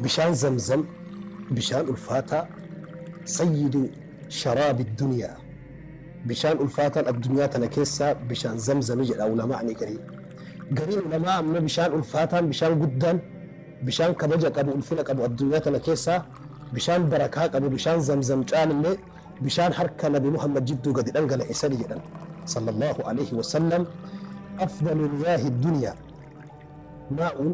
Bishaan zamzam bishaan ulfaataa sayyidu sharaabi duniyaa bishaan ulfaataan addunyaa tana keessaa bishaan zamzami jedha ulama'ani gariin gariin ulamaa ammoo bishaan ulfaataan bishaan guddaan bishaan kabaja qabu ulfina qabu addunyaa tana keessaa bishaan barakaa qabu bishaan zamzam caalillee bishaan harka nabi muhammad jidduu gadi dhangala'e sani jedhan sallallahu alaihi wasallam afdalu miyaahi duniyaa maa'uun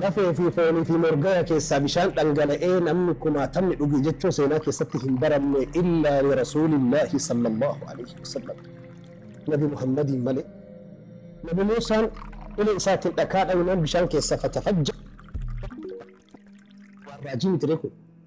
Lafee fi foonii fi morgaya keessaa bishaan dhangala'ee namni kumaatamni dhuge jechuun seenaa keessatti hin baramne illaa li Rasuulillaahi sallallaahu aleyhi wasallam, Nabi Muhammadiin malee. Nabi Muusaan ulee isaatiin dhakaa dhawinaan bishaan keessaa fatafajja'e. Waan raajii mitiree kun?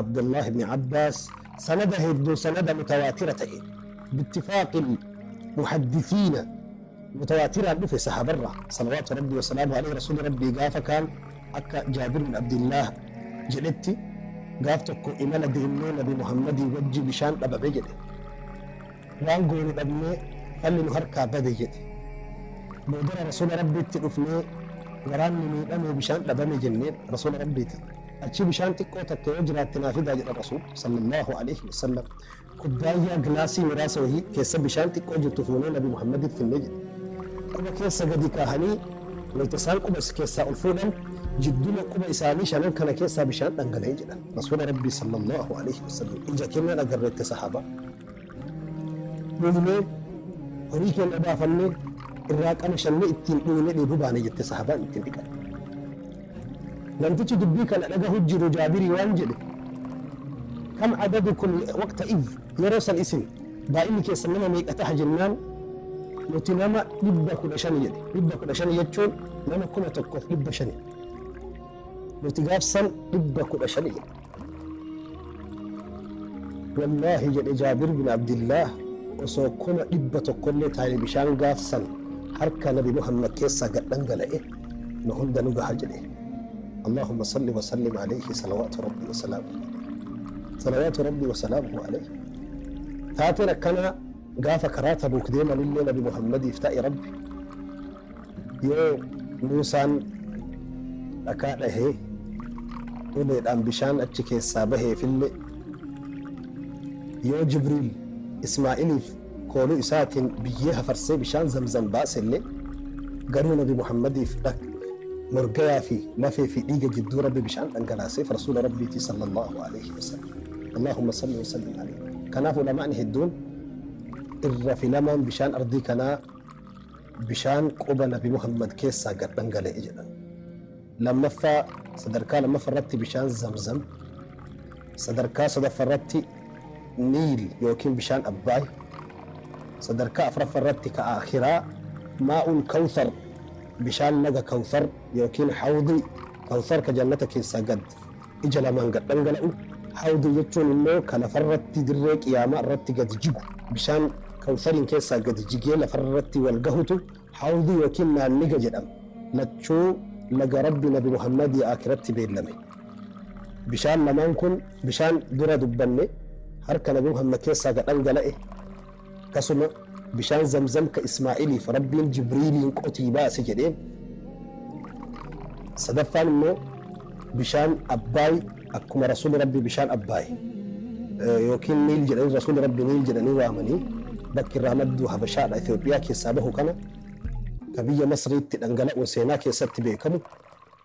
Abdullah ibn Abbaas sanada heddun sanada mutawaatira ta'een bittifaaqil muhaddisiina mutawaatiraan dhufe sahabarra salawaatu rabbii wasalaamu alayhi rasuuli rabbii gaafa kaan akka jaabir bin abdillah jedhetti gaaf tokko imala deemnee nabi muhammadii wajji bishaan dhabame jedhe waan goonu dhabnee falli nu harkaa bade jedhe. Boodara Rasuula Rabbiitti dhufnee waraanni miidhame bishaan dhabame jenneen Rasuula Rabbiitiin achii bishaan xiqqoo takka yoo jiraatte naa fidaa jedhan Rasuul sallallahu alaihi wasallam kubbaayyaa gilaasii muraasa wahii keessa bishaan xiqqoo jirtu fuunee Nabi Muhammadiif finne jedhe. Quba keessa gadi kaahanii wayta isaan quba keessaa ol fuudhan jidduma quba isaanii shanan kana keessaa bishaan dhangala'e jedhan Rasuula Rabbii sallallahu alaihi wasallam ija kennaan agarreette sahaaba. Dhumnee horii keenya baafannee irraa qamashannee ittiin dhugnee dheebuu baane jette sahabaan ittiin dhiqatte. Namtichi dubbii kana dhagahu jiru Jaabirii waan jedhe kam adadukum waqta iz yeroo san isin baay'inni keessan nama meeqa taha jennaan nuti nama dhibba kudha shani jedhe dhibba kudha shani jechuun nama kuma tokkoof dhibba shani nuti gaafsan dhibba kudha shani jedhe Wallaahi jedhe Jaabir bin Abdillaah osoo kuma dhibba tokkollee taa'ee bishaan gaaf san harka Nabi Muhammad keessaa gad dhangala'e nu hunda nu gaha jedhe. Allaahumma salli wa sallim alayhi salawaatu rabbii wa salaamuhu alayhi. Salawaatu rabbii wa salaamuhu alayhi. Taateen akkanaa gaafa karaa Tabuuk deemanillee Nabi Muhammadiif taa'e Rabbi Yoo Muusaan dhakaa dhahee uleedhaan bishaan achi keessaa baheefille, yoo Jibriil Ismaa'iliif kooluu isaatiin biyyee hafarsee bishaan Zamzam baaselle, garuu Nabi Muhammadiif morgayaa fi lafee fi dhiiga jidduu Rabbi bishaan dhangalaaseef, Rasuula Rabbiiti sallallaahu aleyhi wa sallam. Allaahumma salli wa sallim aleyhi. Kanaaf ulamaa'ni hedduun irra filamaan bishaan ardii kanaa, bishaan quba Nabi Muhammad keessaa gad dhangala'e jedhan. Lammaffaa sadarkaa lammaffaa irratti bishaan Zamzam, sadarkaa sadaffaa irratti Niil yookiin bishaan Abbaay, sadarkaa afraffaa irratti ka aakhiraa Maa'ul Kawthar, bishaan laga Kawthar yookiin Hawdii Kawthar ka jannata keessaa gad. ija lamaan gad dhangala'u, Hawdi jechuun immoo ka lafarratti dirree Qiyaamaa irratti gadi jigu, bishaan Kawsariin keessaa gadi jigee lafarratti wal gahutu Hawdi ykn Naanniga jedhama. Lachuu laga Rabbi Nabi Muhammadii Aakhiratti beellame. Bishaan lamaan kun bishaan dura dubbanne harka Nabi Muhammad keessaa ga dhangala'e, Akkasuma bishaan zamzam ka Ismaa'iliif Rabbiin Jibriiliin qotii baase jedheen. Sadaffaan immoo bishaan Abbaay akkuma Rasuulli Rabbii bishaan Abbaay yookiin Niil jedhanii Rasuulli Rabbii Niil jedhanii waamanii bakki irraa maddu Habashaadha Itoophiyaa keessaa bahu kana ka biyya Masriitti dhangala'uun seenaa keessatti beekamu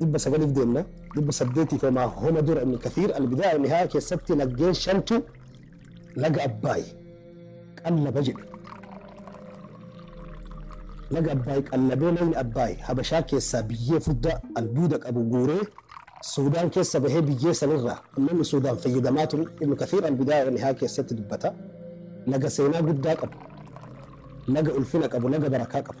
dhibba sagaliif deemna. dhibba saddeetiif homaa homa dura ibn kathiir albidaaya wanihaaya keessatti laggeen shantu laga abbaay qallaba jedhe laga abbaay qallabee lagni abbaay habashaa keessaa biyyee furdaa albuuda qabu guuree suudaan keessa bahee biyyee sanirraa ummanni suudaan fayyadamaa turu ibn kathiir albidaaya wanihaaya keessatti dubbata laga seenaa guddaa qabu laga ulfina qabu laga barakaa qabu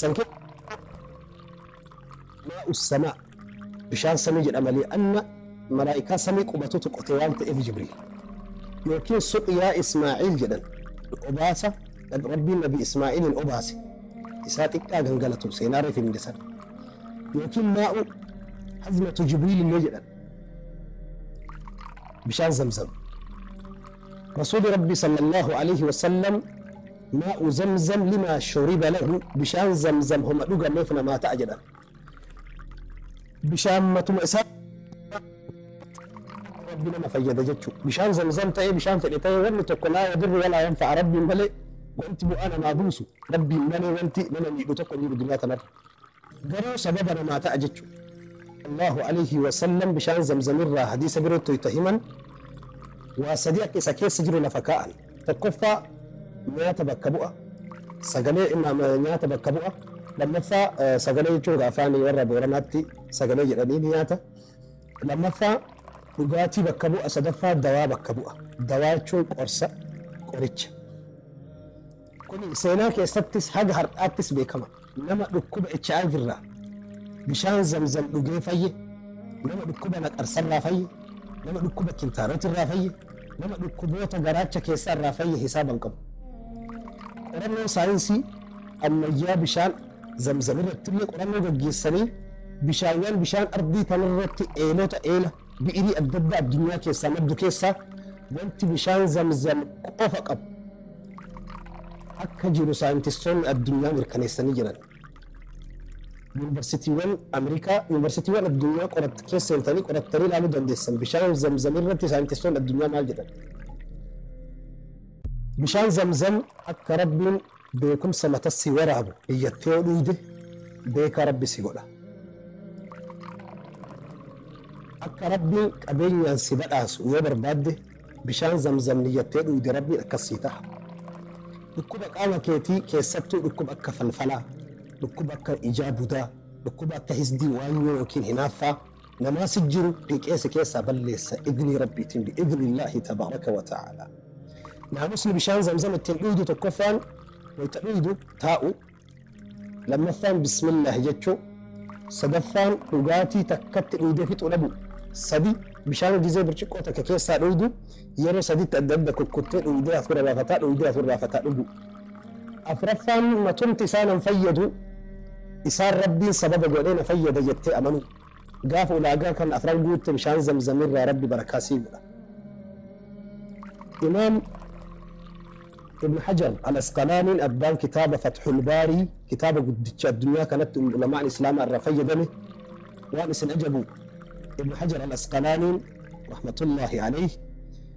San keessaa tokko maa'u samaa, bishaan samii jedhama li'anna malaaykaa samii qubatutu qote waan ta'eef Jibriil. Yookiin suqyaa Ismaa'iil jedhan, obaasa kan Rabbiin Nabi Ismaa'iiliin obaase isaa xiqqaa gangalatu seenaa reef himne san. Yookiin maa'u hazmatu Jibriil illee jedhan. Bishaan Zamzam. Rasuuli Rabbii sallallahu aleyhi wa sallam Maa'u zamzam limaa shuriba lahu bishaan zamzam homa dhugameef namaa ta'a jedhan. Bishaan matuma isaa Rabbi nama fayyada jechuu. Bishaan zamzam ta'ee bishaan fedhe ta'ee wanni tokko laa yadurru walaa yanfa'a Rabbiin malee wanti bu'aa namaa buusu Rabbiin malee wanti nama miidhu tokko hin jiru duniyaa tanarra. Garuu sababa namaa ta'a jechu. Allaahu Aleeyhi Wasallam bishaan Zamzam irraa hadiisa birootti wayta himan waa sadii akka isa keessa jiru lafa kaa'an. Tokkoffaa nyaata bakka bu'a, sagalee nyaata bakka bu'a. Lammaffaa sagalee jechuun gaa afaan warra Booranaatti sagalee jedhanii ni nyaata. Lammaffaa dhugaatii bakka bu'a, sadaffaa dawaa bakka bu'a. Dawaa jechuun qorsa, qoricha. Kuni seenaa keessattis haga har'aattis beekama. Nama dhukkuba HIV irraa bishaan zamzam dhugee fayye, nama dhukkuba naqarsa irraa fayye, nama dhukkuba kintaarot irraa fayye, nama dhukkuboota garaacha keessaa irraa fayye hisaaba hin qabu. Qorannoon saayinsii ammayyaa bishaan zamzam irrattillee qorannoo gaggeessanii bishaawwan bishaan ardii tanarratti eelota eela, Bi'irii adda addaa addunyaa keessaa maddu keessaa wanti bishaan Zamzam qofa qabu akka jiru saayintistoonni addunyaa mirkaneessanii jiran. Yuunivarsitiiwwan Ameerikaa, yuunivarsitiiwwan addunyaa qoratt keessa seentanii qorattanii ilaaluu dandeessan. Bishaan Zamzam irratti saayintistoonni addunyaa maal jedhan? Bishaan Zamzam akka Rabbiin Beekumsa mata si waraabu iyyatti yoo dhuuyde beekaa rabbi si godha. Akka rabbiin qabeenyaan si badhaasu yoo barbaadde bishaan zamzam niyyattee dhuuyde rabbiin akkas sii taha. Dhukkuba qaama keetii keessattuu dhukkuba akka falfalaa, dhukkuba akka ijaa budaa, dhukkuba akka hisdii waanyoo ykn hinaaffaa, Namaa si jiru dhiqee si keessaa balleessa idnii rabbiitin bi idnillaahi tabaaraka wa ta'aalaa. Naamusni bishaan zamzam ittiin dhuydu tokkoffaan wayta dhuydu taa'u, lammaffaan bismillaahi jechu, sadaffaan dhugaatii takkatti dhuydee fixuu dhabu, sadi bishaan gizee birciqqoo takka keessaa dhuydu yeroo saditti adda adda kukkuttee dhuydee hafuura baafataa dhuydee hafuura baafataa dhugu. Afraffaan matumti isaa nan fayyadu, isaan Rabbiin sababa godhee na fayyada jettee amanuu. Gaafa ulaagaa kana afran guutte bishaan zamzam irraa Rabbi barakaa sii godha. Imaam Ibn Hajar al-Asqalaaniin abbaan kitaaba Fathul Baarii kitaaba guddicha addunyaa kanatti ulamaan Islaamaa irraa fayyadame waan isin ajabu Ibn Hajar al-Asqalaaniin rahmatullaahi alayhi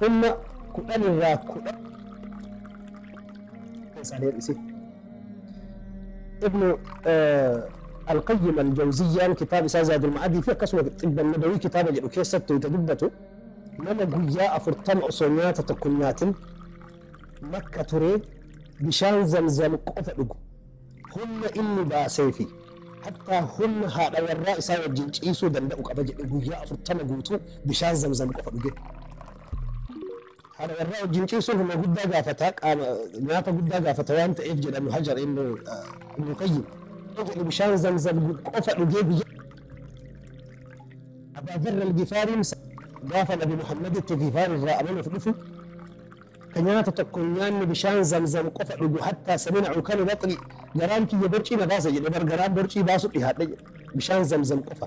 Humna kudhan irraa kudhan isaanii hir'ise. Ibnu Alqayyim Aljawziyyaan kitaaba isaa Zaadul Ma'adii fi akkasuma Xibban Nabawii kitaaba jedhu keessatti wayita dubbatu nama guyyaa afurtama osoo nyaata tokko hin nyaatin makka turee bishaan zamzam qofa dhugu Humna inni baasee fi hattaa humna haadha warraa isaa wajjin ciisuu danda'u qaba jedhe guyyaa 40 guutuu bishaan zamzam qofa dhuge. Haadha warraa wajjin ciisuun humna guddaa gaafata, qaama nyaata guddaa gaafata waan ta'eef jedha Ibnu Hajar Ibnu Ibnu Qayyim. Yoo jedhe bishaan zamzam qofa dhugee guyyaa Abaa Zarr al-Gifaariin gaafa Nabi Muhammaditti Gifaar irraa amanuuf dhufu Ka nyaata tokko hin nyaanne bishaan zamzam qofa dhugu hattaa samina ukana baxni garaan kiyya borcii na baasa jedhe bar garaan borcii baasu dhihaadhe jedhe bishaan zamzam qofa.